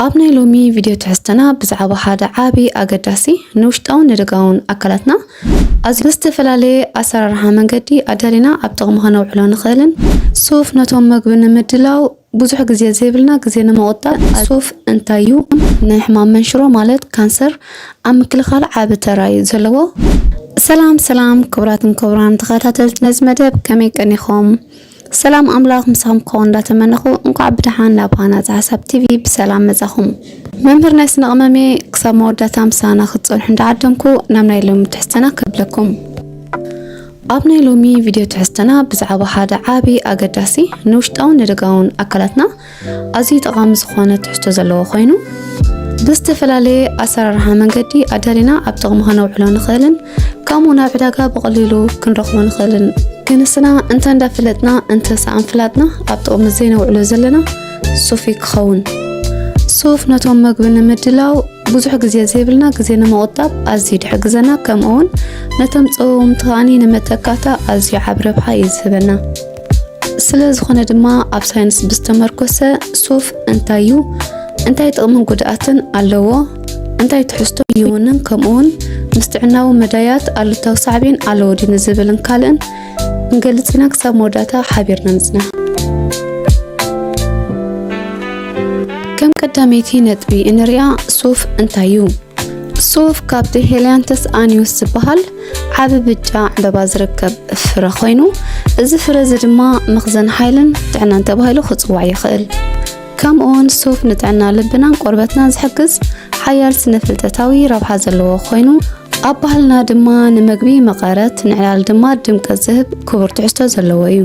ኣብ ናይ ሎሚ ቪድዮ ትሕዝቶና ብዛዕባ ሓደ ዓቢ ኣገዳሲ ንውሽጣውን ንደጋውን ኣካላትና ኣዝዩ ብዝተፈላለየ ኣሰራርሓ መንገዲ ኣዳሊና ኣብ ጥቕሚ ከነውዕሎ ንኽእልን ሱፍ ነቶም መግቢ ንምድላው ብዙሕ ግዜ ዘይብልና ግዜ ንምቑጣብ ሱፍ እንታይ እዩ ንሕማም መንሽሮ ማለት ካንሰር ኣብ ምክልኻል ዓቢ ተራ እዩ ዘለዎ። ሰላም ሰላም ክቡራትን ክቡራን ተኸታተልቲ ነዚ መደብ ከመይ ቀኒኹም? ሰላም ኣምላኽ ምሳኹም ክኸውን እንዳተመነኹ እንኳዕ ብደሓን ናብ ሃናጺ ሓሳብ ቲቪ ብሰላም መጻኹም። መምህር ናይ ስነ ቅመምየ ክሳብ መወዳእታ ምሳና ክትጸንሑ እንዳዓደምኩ ናብ ናይ ሎሚ ትሕዝተና ከብለኩም ኣብ ናይ ሎሚ ቪድዮ ትሕዝተና ብዛዕባ ሓደ ዓቢ ኣገዳሲ ንውሽጣውን ንደጋውን ኣካላትና ኣዝዩ ጠቓሚ ዝኾነ ትሕዝቶ ዘለዎ ኮይኑ ብዝተፈላለየ ኣሰራርሓ መንገዲ ኣዳሊና ኣብ ጥቕሚ ከነውዕሎ ንኽእልን ከምኡ ናብ ዕዳጋ ብቐሊሉ ክንረኽቦ ንኽእልን ክንስና እንተ እንዳፍለጥና እንተ ሰኣን ፍላጥና ኣብ ጥቕሚ ዘይነውዕሎ ዘለና ሱፍ እዩ ክኸውን ሱፍ ነቶም መግቢ ንምድላው ብዙሕ ግዜ ዘይብልና ግዜ ንምቑጣብ ኣዝዩ ድሕግዘና ከምኡውን ነቶም ፀወምቲ ከዓኒ ንመተካእታ ኣዝዩ ዓብ ረብሓ እዩ ዝህበና ስለዝኾነ ድማ ኣብ ሳይንስ ብዝተመርኮሰ ሱፍ እንታይ እዩ፣ እንታይ ጥቕምን ጉድኣትን ኣለዎ፣ እንታይ ትሕዝቶ ይውንን፣ ከምኡውን ምስ ጥዕናዊ መዳያት ኣሉታዊ ሳዕቤን ኣለዎ ድዩ ንዝብልን ካልእን ክንገልጽ ኢና። ክሳብ መወዳእታ ሓቢርና ንጽና። ከም ቀዳመይቲ ነጥቢ እንሪኣ ሱፍ እንታይ እዩ? ሱፍ ካብቲ ሄልያንተስ ኣንዩስ ዝበሃል ዓቢ ብጫ ዕምበባ ዝርከብ ፍረ ኮይኑ እዚ ፍረ እዚ ድማ መኽዘን ሓይልን ጥዕናን ተባሂሉ ክጽዋዕ ይኽእል። ከምኡውን ሱፍ ንጥዕና ልብናን ቆርበትናን ዝሕግዝ ሓያል ስነ ፍልጠታዊ ረብሓ ዘለዎ ኮይኑ ኣብ ባህልና ድማ ንመግቢ መቐረት ንዕላል ድማ ድምቀት ዝህብ ክቡር ትሕዝቶ ዘለዎ እዩ።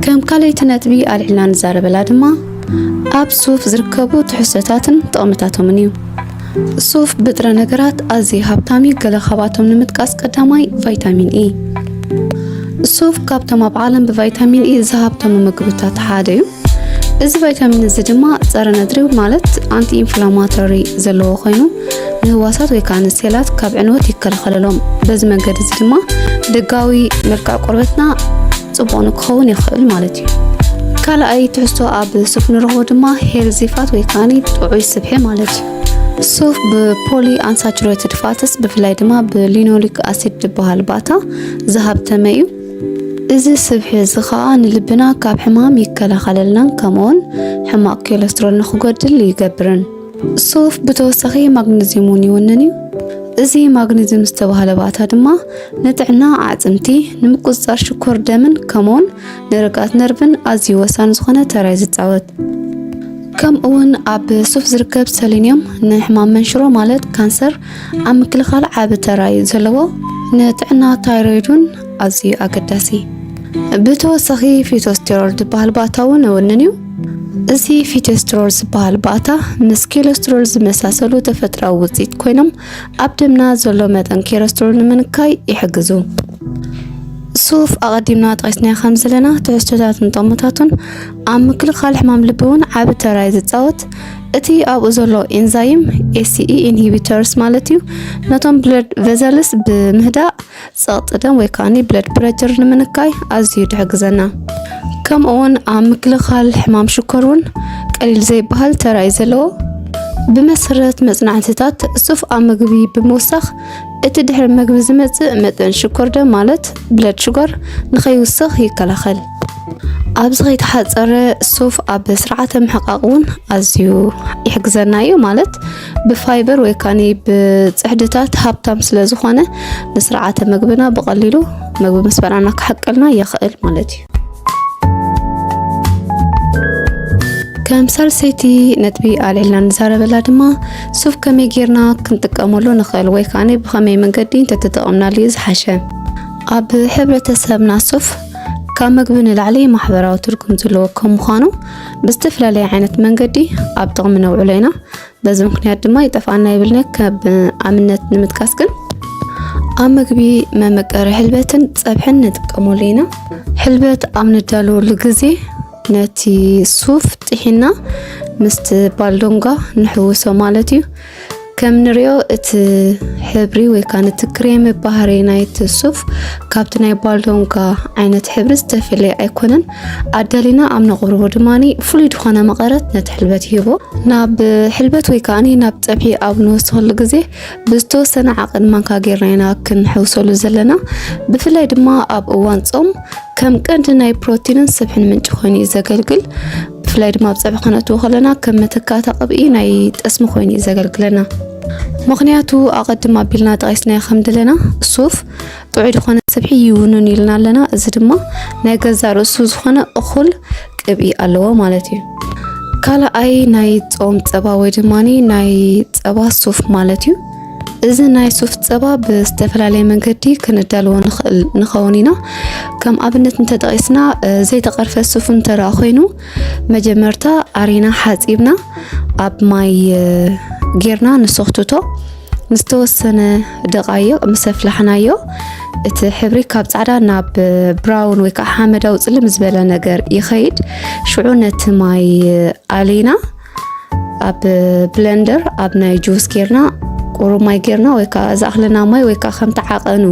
ከም ካልኣይቲ ነጥቢ ኣልዒልና ንዛረበላ ድማ ኣብ ሱፍ ዝርከቡ ትሕዝቶታትን ጥቕምታቶምን እዩ ሱፍ ብጥረ ነገራት ኣዝዩ ሃብታም እዩ። ገለ ካብኣቶም ንምጥቃስ ቀዳማይ ቫይታሚን ኢ። ሱፍ ካብቶም ኣብ ዓለም ብቫይታሚን ኢ ዝሃብተሙ ምግብታት ሓደ እዩ። እዚ ቫይታሚን እዚ ድማ ጸረ ነድሪ ማለት ኣንቲ ኢንፍላማቶሪ ዘለዎ ኮይኑ ንህዋሳት ወይ ከዓ ንሴላት ካብ ዕንወት ይከላኸለሎም። በዚ መንገዲ እዚ ድማ ደጋዊ መልክዕ ቆርበትና ጽቡቕ ንክኸውን ይኽእል ማለት እዩ። ካልኣይ ትሕዝቶ ኣብ ሱፍ ንረኽቦ ድማ ሄልዚ ፋት ወይ ከዓ ጥዑይ ስብሒ ማለት እዩ። ሱፍ ብፖሊ ኣንሳቹሬትድ ፋትስ ብፍላይ ድማ ብሊኖሊክ ኣሲድ ዝበሃል ባታ ዝሃብተመ እዩ። እዚ ስብሒ እዚ ኸኣ ንልብና ካብ ሕማም ይከላኸለልናን ከምኡውን ሕማቕ ኮለስትሮል ንኽጎድል ይገብርን። ሱፍ ብተወሳኺ ማግነዚየም እውን ይውንን እዩ። እዚ ማግነዚየም ዝተባህለ ባእታ ድማ ንጥዕና ኣዕፅምቲ፣ ንምቁፅፃር ሽኮር ደምን ከምኡውን ንርግኣት ነርቭን ኣዝዩ ወሳኒ ዝኾነ ተራ እዩ ዝፃወት። ከምኡውን ኣብ ሱፍ ዝርከብ ሰሌንየም ንሕማም መንሽሮ ማለት ካንሰር ኣብ ምክልኻል ዓቢ ተራ እዩ ዘለዎ። ንጥዕና ታይሮይድ እውን ኣዝዩ ኣገዳሲ። ብተወሳኺ ፊቶስቴሮል ዝበሃል ባእታ እውን እውንን እዩ። እዚ ፊቶስትሮል ዝበሃል ባእታ ምስ ኬለስትሮል ዝመሳሰሉ ተፈጥራዊ ውፅኢት ኮይኖም ኣብ ደምና ዘሎ መጠን ኬለስትሮል ንምንካይ ይሕግዙ። ሱፍ ኣቐዲምና ጠቂስናዮ ከም ዘለና ትሕዝቶታትን ጠሞታቱን ኣብ ምክልኻል ሕማም ልቢ እውን ዓቢ ተራ ዝፃወት እቲ ኣብኡ ዘሎ ኤንዛይም ኤስኢ ኢንሂቢተርስ ማለት እዩ ነቶም ብለድ ቨዘልስ ብምህዳእ ፀቕጢ ደም ወይ ከዓኒ ብለድ ፕረቸር ንምንካይ ኣዝዩ ድሕግዘና ከምኡ እውን ኣብ ምክልኻል ሕማም ሽኮር እውን ቀሊል ዘይበሃል ተራ እዩ ዘለዎ ብመሰረት መፅናዕትታት ሱፍ ኣብ ምግቢ ብምውሳኽ እቲ ድሕሪ ምግቢ ዝመፅእ መጠን ሽኮር ደም ማለት ብለድ ሽጓር ንኸይውስኽ ይከላኸል ኣብዚ ከይተሓፀረ ሱፍ ኣብ ስርዓተ ምሕቃቅ እውን ኣዝዩ ይሕግዘና እዩ ማለት ብፋይበር ወይ ካኒ ብፅሕድታት ሃብታም ስለ ዝኾነ ንስርዓተ ምግብና ብቀሊሉ ምግቢ ምስ በላዕና ክሕቀልና ይኽእል ማለት እዩ። ከም ሳልሰይቲ ነጥቢ ኣልዒልና ንዛረበላ ድማ ሱፍ ከመይ ጌርና ክንጥቀመሉ ንኽእል ወይ ካኒ ብኸመይ መንገዲ እንተተጠቐምናሉ እዩ ዝሓሸ ኣብ ሕብረተሰብና ሱፍ ካብ ምግቢ ንላዕሊ ማሕበራዊ ትርጉም ዘለዎ ከም ምዃኑ ብዝተፈላለየ ዓይነት መንገዲ ኣብ ጥቕሚ ነውዕሎ ኢና። በዚ ምክንያት ድማ ይጠፍኣና ይብልነ ካብ ኣብነት ንምጥቃስ ግን ኣብ ምግቢ መመቀሪ ሕልበትን ፀብሕን ንጥቀመሉ ኢና። ሕልበት ኣብ ነዳለወሉ ግዜ ነቲ ሱፍ ጥሒና ምስቲ ባልዶንጓ ንሕውሶ ማለት እዩ። ከም ንሪኦ እቲ ሕብሪ ወይ ከዓ ነቲ ክሬም ባህሪ ናይቲ ሱፍ ካብቲ ናይ ባልዶንጋ ዓይነት ሕብሪ ዝተፈለየ ኣይኮነን። ኣዳሊና ኣብ ነቕርቦ ድማ ፍሉይ ዝኾነ መቐረት ነቲ ሕልበት ይህቦ። ናብ ሕልበት ወይ ከዓ ናብ ፀብሒ ኣብ ንወስኸሉ ግዜ ብዝተወሰነ ዓቐን ማንካ ጌርና ኢና ክንሕውሰሉ ዘለና። ብፍላይ ድማ ኣብ እዋን ፆም ከም ቀንዲ ናይ ፕሮቲንን ስብሕን ምንጪ ኮይኑ እዩ ዘገልግል። ብፍላይ ድማ ኣብ ፀብሒ ክነእትዎ ከለና ከም መተካእታ ቅብኢ ናይ ጠስሚ ኮይኑ እዩ ዘገልግለና። ምክንያቱ ኣቐድም ኣቢልና ጠቂስናዮ ከም ድለና ሱፍ ጥዑይ ዝኾነ ስብሒ ይውንን ኢልና ኣለና። እዚ ድማ ናይ ገዛ ርእሱ ዝኾነ እኹል ቅብኢ ኣለዎ ማለት እዩ። ካልኣይ ናይ ፆም ፀባ ወይ ድማ ናይ ፀባ ሱፍ ማለት እዩ። እዚ ናይ ሱፍ ፀባ ብዝተፈላለየ መንገዲ ክንዳልዎ ንኽእል ንኸውን ኢና። ከም ኣብነት እንተጠቒስና ዘይተቐርፈ ሱፍ እንተረኣ ኮይኑ መጀመርታ ኣሪና ሓፂብና ኣብ ማይ ጌርና ንሰኽትቶ ንዝተወሰነ ደቃይቕ ምስ ኣፍላሕናዮ እቲ ሕብሪ ካብ ፃዕዳ ናብ ብራውን ወይ ከዓ ሓመዳዊ ፅልም ዝበለ ነገር ይኸይድ። ሽዑ ነቲ ማይ ኣሊና ኣብ ብለንደር ኣብ ናይ ጁስ ጌርና ቁሩብ ማይ ጌርና ወይ ከዓ ዝኣኽለና ማይ ወይ ከዓ ከምቲ ዓቐኑ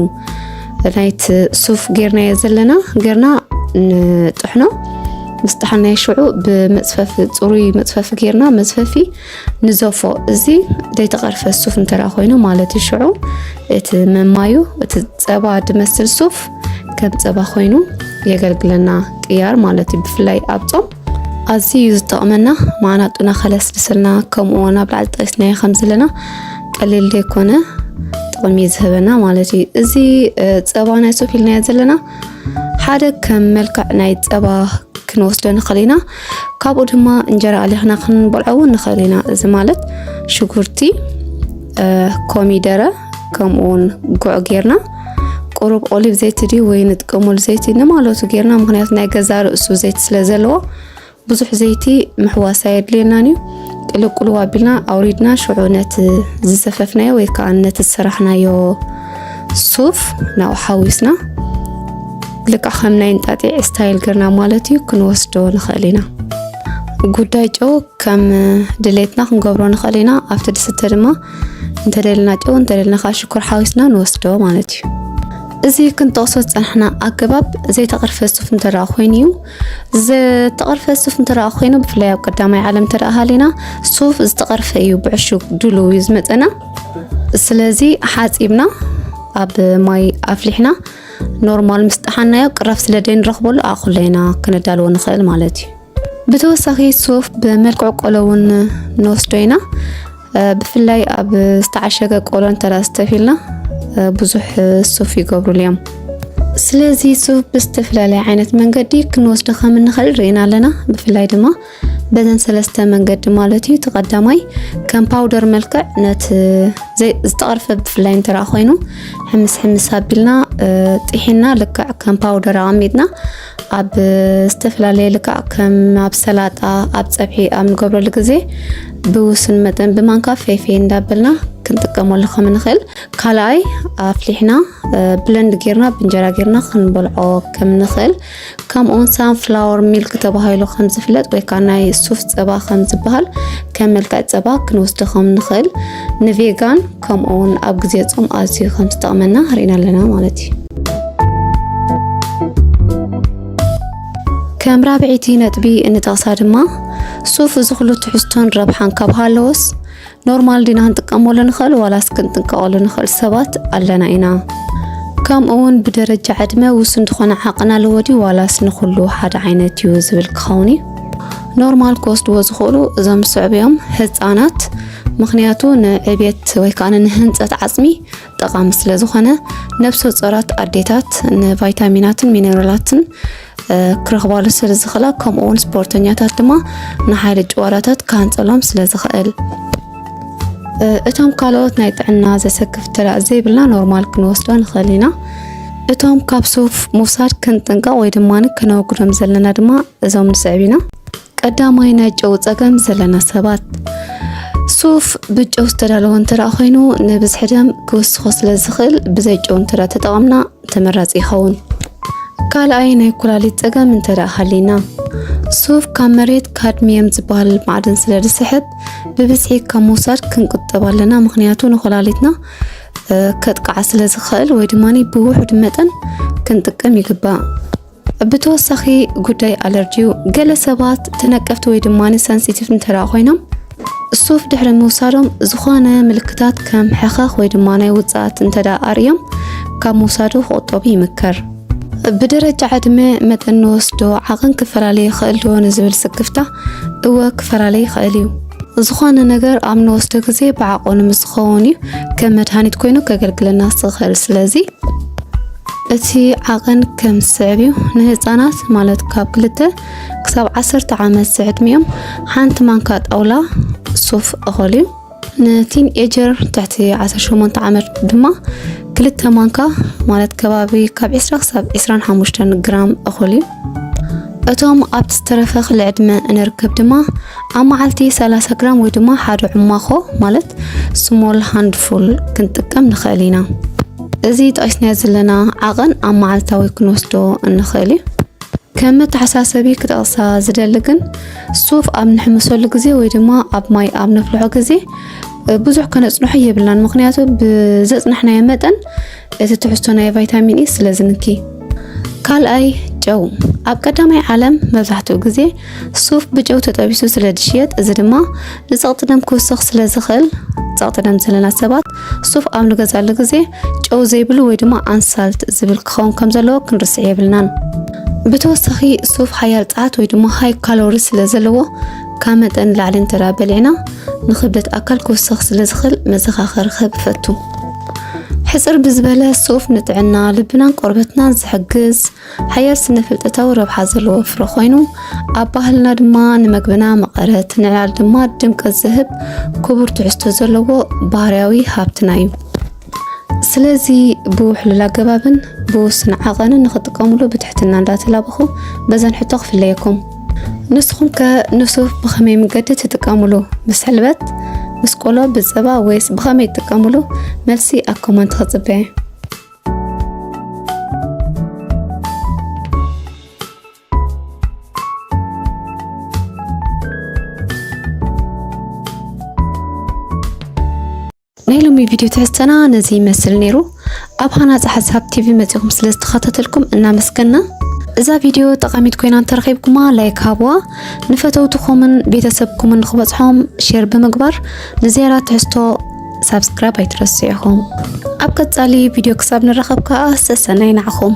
ናይቲ ሱፍ ጌርናዮ ዘለና ጌርና ንጥሕኖ ምስ ጠሓናዮ ሽዑ ብመፅፈፊ ፅሩይ መፅፈፊ ጌርና መፅፈፊ ንዘፎ እዚ ዘይተቐርፈ ሱፍ እንተራ ኮይኑ ማለት እዩ ሽዑ እቲ መማዩ እቲ ፀባ ድመስል ሱፍ ከም ፀባ ኮይኑ የገልግለና ቅያር ማለት እዩ ብፍላይ ኣብ ፆም ኣዝዩ ዝጠቕመና ማዕናጡና ከለስልሰልና ከምኡ ውን ኣብ ላዕሊ ጠቂስናዮ ከም ዘለና ቀሊል ዘይኮነ ጥቕሚ ዝህበና ማለት እዩ። እዚ ፀባ ናይ ሱፍ ኢልናዮ ዘለና ሓደ ከም መልክዕ ናይ ፀባ ክንወስዶ ንኽእል ኢና። ካብኡ ድማ እንጀራ ኣሊኽና ክንበልዖ እውን ንኽእል ኢና። እዚ ማለት ሽጉርቲ፣ ኮሚደረ ከምኡ እውን ጉዕ ጌርና ቁሩብ ኦሊቭ ዘይቲ ድዩ ወይ ንጥቀመሉ ዘይቲ ንማለቱ ጌርና ምክንያቱ ናይ ገዛ ርእሱ ዘይቲ ስለ ዘለዎ ብዙሕ ዘይቲ ምሕዋስ ኣየድልየናን እዩ ቅልቅሉ ኣቢልና ኣውሪድና ሽዑ ነቲ ዝሰፈፍናዮ ወይ ከዓ ነቲ ዝሰራሕናዮ ሱፍ ናብኡ ሓዊስና ልካ ከም ናይ እንጣጢዕ ስታይል ገርና ማለት እዩ ክንወስዶ ንኽእል ኢና ጉዳይ ጨው ከም ድሌትና ክንገብሮ ንኽእል ኢና ኣብቲ ድስተ ድማ እንተደልና ጨው እንተደልና ከዓ ሽኮር ሓዊስና ንወስዶ ማለት እዩ እዚ ክንጠቕሶ ዝፀናሕና ኣገባብ ዘይተቐርፈ ሱፍ እንተ ኮይኑ እዩ ዝተቐርፈ ሱፍ እንተ ኮይኑ ብፍላይ ኣብ ቀዳማይ ዓለም እንተ ሃሊና ሱፍ ዝተቐርፈ እዩ ብዕሹግ ድሉ እዩ ዝመፀና ስለዚ ሓፂብና ኣብ ማይ ኣፍሊሕና ኖርማል ምስ ጠሓናዮ ቅራፍ ስለ ደይንረኽበሉ ኣእኹሎ ኢና ክነዳልዎ ንኽእል ማለት እዩ ብተወሳኺ ሱፍ ብመልክዕ ቆሎ እውን ንወስዶ ኢና ብፍላይ ኣብ ዝተዓሸገ ቆሎ እንተተፊልና ብዙሕ ሱፍ ይገብሩሉ እዮም። ስለዚ ሱፍ ብዝተፈላለየ ዓይነት መንገዲ ክንወስዶ ከም እንኽእል ርኢና ኣለና። ብፍላይ ድማ በዘን ሰለስተ መንገዲ ማለት እዩ። እቲ ቀዳማይ ከም ፓውደር መልክዕ ነቲ ዝተቐርፈ ብፍላይ እንተራ ኮይኑ ሕምስ ሕምስ ኣቢልና ጢሒና ልክዕ ከም ፓውደር ኣቐሚጥና ኣብ ዝተፈላለየ ልክዕ ከም ኣብ ሰላጣ ኣብ ፀብሒ ኣብ ንገብረሉ ግዜ ብውሱን መጠን ብማንካ ፈይፈይ እንዳበልና ክንጥቀመሉ ከም ንኽእል፣ ካልኣይ ኣፍሊሕና ብለንድ ጌርና ብእንጀራ ጌርና ክንበልዖ ከም ንኽእል፣ ከምኡውን ሳንፍላወር ሚልክ ተባሂሉ ከም ዝፍለጥ ወይ ከዓ ናይ ሱፍ ፀባ ከም ዝበሃል ከም መልክዕ ፀባ ክንወስዶ ከም ንኽእል ንቬጋን ከምኡ እውን ኣብ ግዜ ጾም ኣዝዩ ከም ዝጠቕመና ርኢና ኣለና ማለት እዩ ከም ራብዒቲ ነጥቢ እንጠቕሳ ድማ ሱፍ እዚ ኩሉ ትሕዝቶን ረብሓን ካብ ሃለዎስ ኖርማል ዲና ክንጥቀመሉ ንኽእል ዋላስ ክንጥንቀቐሉ ንኽእል ሰባት ኣለና ኢና ከምኡ እውን ብደረጃ ዕድመ ውሱን ዝኾነ ዓቕን ኣለዎ ድዩ ዋላስ ንኹሉ ሓደ ዓይነት እዩ ዝብል ክኸውን እዩ ኖርማል ክወስድዎ ዝኽእሉ እዞም ዝስዕቡ እዮም ህፃናት ምክንያቱ ንዕብየት ወይ ከዓ ንህንፀት ዓፅሚ ጠቃሚ ስለ ዝኾነ ነብሰ ጾራት ኣዴታት ንቫይታሚናትን ሚነራላትን ክረኽባሉ ስለ ዝኽእላ ከምኡ እውን ስፖርተኛታት ድማ ንሓይሊ ጭዋዳታት ክሃንፀሎም ስለ ዝኽእል እቶም ካልኦት ናይ ጥዕና ዘሰክፍ ተላእ ዘይብልና ኖርማል ክንወስዶ ንኽእል ኢና እቶም ካብ ሱፍ ምውሳድ ክንጥንቀቕ ወይ ድማ ክነወግዶም ዘለና ድማ እዞም ንስዕብ ኢና ቀዳማይ ናይ ጨው ጸገም ዘለና ሰባት ሱፍ ብጨው ዝተዳለወ እንተደኣ ኮይኑ ንብዝሒ ደም ክውስኾ ስለ ዝኽእል ብዘይ ጨው እንተደኣ ተጠቐምና ተመራፂ ይኸውን። ካልኣይ ናይ ኩላሊት ጸገም እንተደኣ ሃሊና ሱፍ ካብ መሬት ካድሚየም ዝበሃል ማዕድን ስለ ዝስሕብ ብብዝሒ ካብ ምውሳድ ክንቁጠብ ኣለና። ምክንያቱ ንኮላሊትና ከጥቃዓ ስለ ዝኽእል ወይ ድማ ብውሑድ መጠን ክንጥቀም ይግባእ። ብተወሳኺ ጉዳይ ኣለርጂ እዩ። ገለ ሰባት ተነቀፍቲ ወይ ድማ ሰንሲቲቭ እንተደኣ ኮይኖም ሱፍ ድሕሪ ምውሳዶም ዝኾነ ምልክታት ከም ሕኸኽ ወይ ድማ ናይ ውፅኣት እንተዳ ኣርእዮም ካብ ምውሳዱ ክቑጠቡ ይምከር። ብደረጃ ዕድመ መጠን ንወስዶ ዓቕን ክፈላለ ይኽእል ዶ ንዝብል ስክፍታ እወ ክፈላለ ይኽእል እዩ። ዝኾነ ነገር ኣብ ንወስዶ ግዜ ብዓቕኑ ምስ ዝኸውን እዩ ከም መድሃኒት ኮይኑ ከገልግለና ዝኽእል ስለዚ እቲ ዓቐን ከም ዝስዕብ እዩ፣ ንህጻናት ማለት ካብ ክልተ ክሳብ ዓሰርተ ዓመት ዝዕድሚኦም ሓንቲ ማንካ ጣውላ ሱፍ እኹል እዩ። ንቲን ኤጀር ትሕቲ 18 ዓመት ድማ ክልተ ማንካ ማለት ከባቢ ካብ 20 ክሳብ 25 ግራም እኹል እዩ። እቶም ኣብቲ ዝተረፈ ክሊ ዕድመ እንርከብ ድማ ኣብ መዓልቲ 30 ግራም ወይ ድማ ሓደ ዕማኾ ማለት ስሞል ሃንድፉል ክንጥቀም ንኽእል ኢና። እዚ ጠቂስናዮ ዘለና ዓቐን ኣብ መዓልታዊ ክንወስዶ እንኽእል እዩ። ከም መተሓሳሰቢ ክጠቕሳ ዝደሊ ግን ሱፍ ኣብ ንሕምሰሉ ግዜ ወይ ድማ ኣብ ማይ ኣብ ነፍልሖ ግዜ ብዙሕ ከነፅንሖ የብልናን። ምክንያቱ ብዘፅናሕናዮ መጠን እዚ ትሕዝቶ ናይ ቫይታሚን ኢ ስለ ዝንኪ። ካልኣይ ጨው ኣብ ቀዳማይ ዓለም መብዛሕትኡ ግዜ ሱፍ ብጨው ተጠቢሱ ስለ ዝሽየጥ እዚ ድማ ንጸቕጢ ደም ክውስኽ ስለ ዝኽእል ጸቕጢ ደም ዘለና ሰባት ሱፍ ኣብ ንገዛሉ ግዜ ጨው ዘይብሉ ወይ ድማ ኣንሳልት ዝብል ክኸውን ከም ዘለዎ ክንርስዕ የብልናን። ብተወሳኺ ሱፍ ሓያል ጸዓት ወይ ድማ ሃይ ካሎሪ ስለ ዘለዎ ካብ መጠን ንላዕሊ እንተደኣ በሊዕና ንክብደት ኣካል ክውስኽ ስለ ዝኽእል መዘኻኸሪ ክህብ እፈቱ። ሕጽር ብዝበለ ሱፍ ንጥዕና ልብናን ቆርበትናን ዝሕግዝ ሓያል ስነ ፍልጠታዊ ረብሓ ዘለዎ ፍረ ኮይኑ ኣብ ባህልና ድማ ንመግብና መቐረት ንዕላል ድማ ድምቀት ዝህብ ክቡር ትሕዝቶ ዘለዎ ባህርያዊ ሃብትና እዩ። ስለዚ ብውሕሉል ኣገባብን ብውስን ዓቐንን ንኽጥቀምሉ ብትሕትና እንዳተላበኹ በዘን ሕቶ ክፍለየኩም። ንስኹም ከ ንሱፍ ብኸመይ መገዲ ትጥቀምሉ? ምስ ሕልበት፣ ምስ ቆሎ፣ ብፀባ ወይስ ብኸመይ ትጥቀምሉ? መልሲ ኣብ ኮመንት ክፅበ። ናይ ሎሚ ቪድዮ ትሕዝተና ነዚ ይመስል ነይሩ። ኣብ ሃናጺ ሓሳብ ቲቪ መጺኹም ስለ ዝተኸታተልኩም እናመስገና እዛ ቪድዮ ጠቓሚት ኮይና እንተረኺብኩማ ላይክ ሃብዋ፣ ንፈተውትኹምን ቤተሰብኩምን ንኽበጽሖም ሼር ብምግባር ንዝያዳ ትሕዝቶ ሳብስክራይብ ኣይትረስዑ ኢኹም። ኣብ ቀጻሊ ቪድዮ ክሳብ ንራኸብ ከዓ ሰሰናይ ናዕኹም።